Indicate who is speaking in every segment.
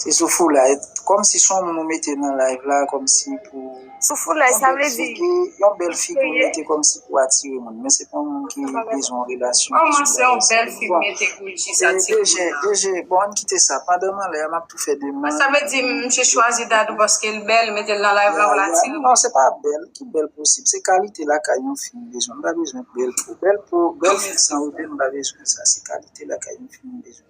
Speaker 1: Se sou foulay, kòmsi se yon moun ou mete nan live la, kòmsi pou, sou foulay sa vle
Speaker 2: di, yon bèl figi ou
Speaker 1: mete kòmsi pou atire moun, men se pa yon moun ki bezwen yon relasyon, an man se yon bèl
Speaker 3: figi ou mete pou li jis atire moun nan, DG, DG, bon
Speaker 1: ann kite sa, pandan m anlè a map tou fè demann, sa vle di misye
Speaker 3: chwazi Dadou paske l bèl, mete l nan live la pou l atire moun, non se pa bèl, ki
Speaker 1: bèl posib, se kalite lakay yon fi m bezwen, m pa bezwen bèl po, bèl po san odè m pa bezwen sa, se kalite lakay yon fi m bezwen.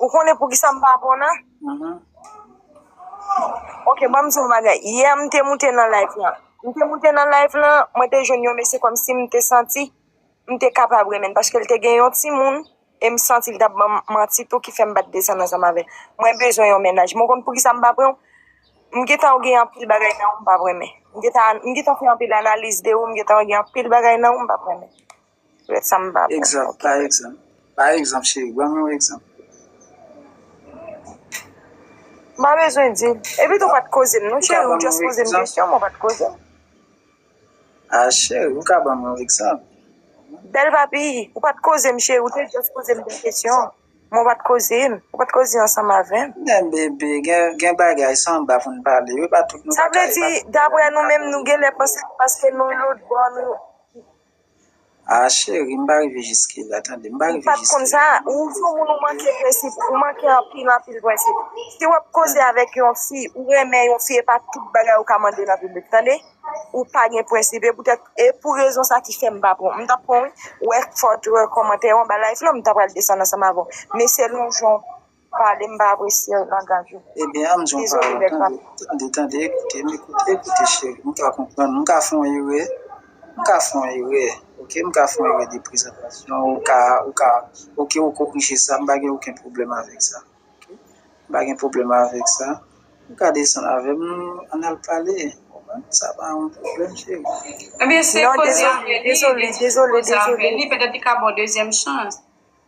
Speaker 2: Ou konnen poukisa m pa bon nan? Ok, banm di w yon bagay. Yè m te moute nan layf lan. M te moute nan layf lan, mwen te jwenn yon mesye kòmsi m te santi m te kapab renmen l. Paske l te gen yon timoun e m santi l t ap ban m manti tou ki fè m pa t desann ansanm avè l. Mwen bezwen yon mennaj. Men w konn poukisa m pa pran w? M gentan gen anpil bagay nan ou m pa p renmen. M gentan fè anpil analiz de ou, m gentan gen anpil bagay nan ou m pa p renmen. Lè sa m pa bon. Egzanp, Pa egzanp.
Speaker 1: Pa egzanp, cheri, ban m yon egzanp.
Speaker 2: M pa bezwen di l. Epitou, w pa t koze m non, cheri. Ou jis poze m kesyon, men w pa t koze m.
Speaker 1: A, cheri, ou ka ban m yon egzanp. Bèl
Speaker 2: papi, ou pa t koze m, cheri. Ou te jis poze m de kesyon, men w pa t koze m. Ou pa t koze ansanm avè m. Men bebe,
Speaker 1: gen bagay sanba pou n pale wi. Pa tout nou ka ka. Sa vle di, daprè
Speaker 2: nou menm, nou genlè panse se paske nou lotbò, nou.
Speaker 1: Ah chérie m pa rive jiske la tande m pa rive jiske la. Ou pat konn sa, ou se yon
Speaker 2: moun ou manke prensip, ou manke anpil anpil prensip. Si wap koze avèk yon fi, ou renmen yon fi e pa tout bagay ou ka mandel an piblik tande. Ou pa gen prensip e poutèt e pou rezon sa ki fèm pa pranw. M tap pranw wi, wè fòw t wè kòmantè an ba live lan m ta pral desann ansanm avèw men selon jan w Pale m pa apresye langaj ou. Ebyen anm di yon
Speaker 1: pawòl tande, tande, tande, ekoute m, ekoute, ekoute cheri m ka konprann, m ka fè yon erè, m ka fè yon erè ok, m ka fè yon erè de prezantasyon ou ka, ou ka ok ou korije sa m pa gen okenn pwoblèm avèk sa ok, m pa gen pwoblèm avèk sa ou ka desann avè m ann al pale sa pa yon pwoblèm cheri. Ebyen se koze avè
Speaker 3: li, ebyen se koze
Speaker 2: avè li petèt
Speaker 3: li ka ba w dezyèm chans.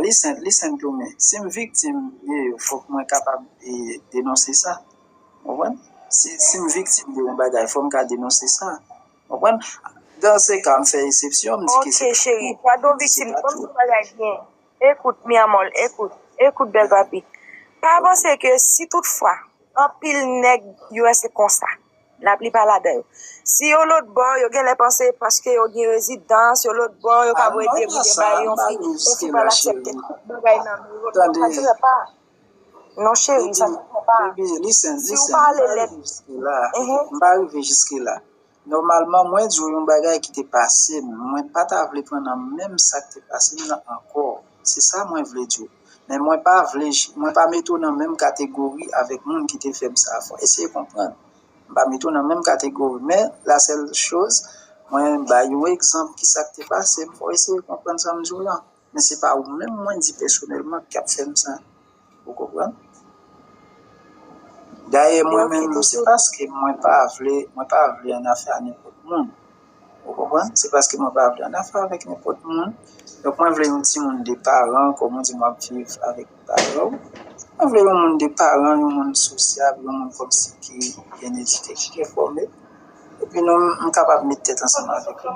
Speaker 1: Listen, listen to me, si m viktim de yo fòk mwen kapab denonse sa. Ou konprann? Si si m viktim de yon bagay fòk m ka denonse sa. Ou konprann? Dans se ka m fè esepsyon, m di ke se pa tou. Ok cheri,
Speaker 2: padon viktim, banm yon bagay byen. Écoute mi amor, écoute, écoute bèl papi. Pa panse ke si tout fwa anpil nèg usa konsa, Laplipa ladan yo, si yo lotbò, yo genlè panse paske yo gen rezidans, yo lotbò, yo ka voye deboude ba yon fi, yon fi pral aksepte tout bagay nan men yo. Sa se fè pa. Non cheri, sa se fè pa. Baby, listen, listen. Si ou pa
Speaker 1: ale lèt.
Speaker 2: M
Speaker 1: pa rive jiske la. Nòmalman, mwen di w yon bagay ki te pase m, mwen pa ta vle pran nan menm sa k te pase m nan ankò. Se sa mwen vle di w. Men mwen pa vle mwen pa mete w nan menm kategori avèk moun ki te fè m sa fò eseye konprann m pa mete w nan menm kategori men la sèl choz mwen bay yon egzanp ki sa k te pase m fò eseye konprann sa m di w lan men se pa ou menm mwen di pèsonèlman k ap fè m sa ou konprann dayè mwen menm se paske mwen pa vle mwen pa vle annafè a nenpòt moun. Ou konprann? Se paske mwen pa vle annafè avèk nenpòt moun. Donk mwen vle yon timoun de paran, kòm ou di m ap viv avèk paran ou. Mwen vle yon moun de paran, yon moun sosyab, yon moun kòmsi ki byen edike, ki byen fòme. Epi nou m kapab met tèt ansanm avèk li.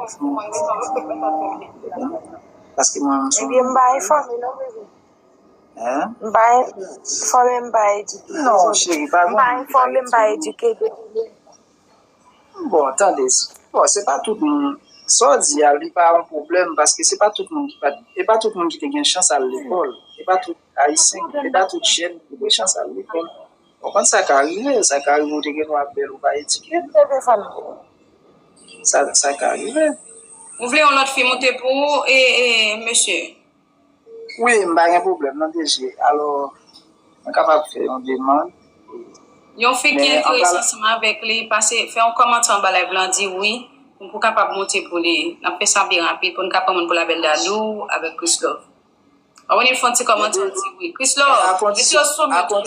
Speaker 1: Paske mwen menm son... Ebyen m pa enfòme non bebe. Hein? M pa enfòme, m pa edike. Non cheri, pa gen moun ki pa edike. M pa enfòme, m pa edike. Bon tande bon se pa tout moun sa w di a li pa yon pwoblèm paske se pa tout moun ki pa t e pa tout moun ki te gen chans al lekòl e pa tout ayisyen e pa tout jèn ki te gen chans al lekòl ou konprann sa ka rive sa ka rive ou te gen nou ap bèl ou pa edike sa ka rive. Ou vle yon
Speaker 3: lòt fim ou te pou e e mesye. Wi
Speaker 1: m pa gen pwoblèm nan DG alò mwen kapab fè yon demand. Yon
Speaker 3: fi ki enterese ansanm avèk li pase fè yon kòmantè anba live lan di wi pou pou kapab monte pou li nap fè sa pi rapid pou nou ka pran moun pou la belle Dadou avèk Chrislove abone fon ti kòmantè di wi Chrislove mesye yo sou
Speaker 1: mwen trop.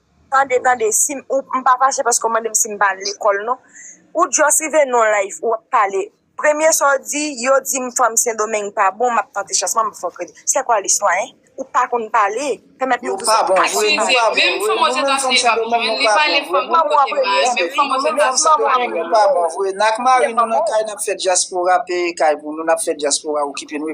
Speaker 2: Tande tande sim ou m pa fache paske ou mandem sim pa al lekòl non ou just rive nan yon live ou ap pale premye sa w di yo dim fanm sendomeng pa bon map tante chans mwen map fè w kredi se kwa listwa hein ou pa konn pale pèmèt mwen di sa ou pa konn pale menm fanm
Speaker 1: ozetazini
Speaker 3: pa bon menm li pale fanm tout kote mal menm fanm ozetazini pa bon vre nan ak
Speaker 1: mari nou nan kay nap fè diaspora peye kay pou nou nap fè diaspora okipe nou.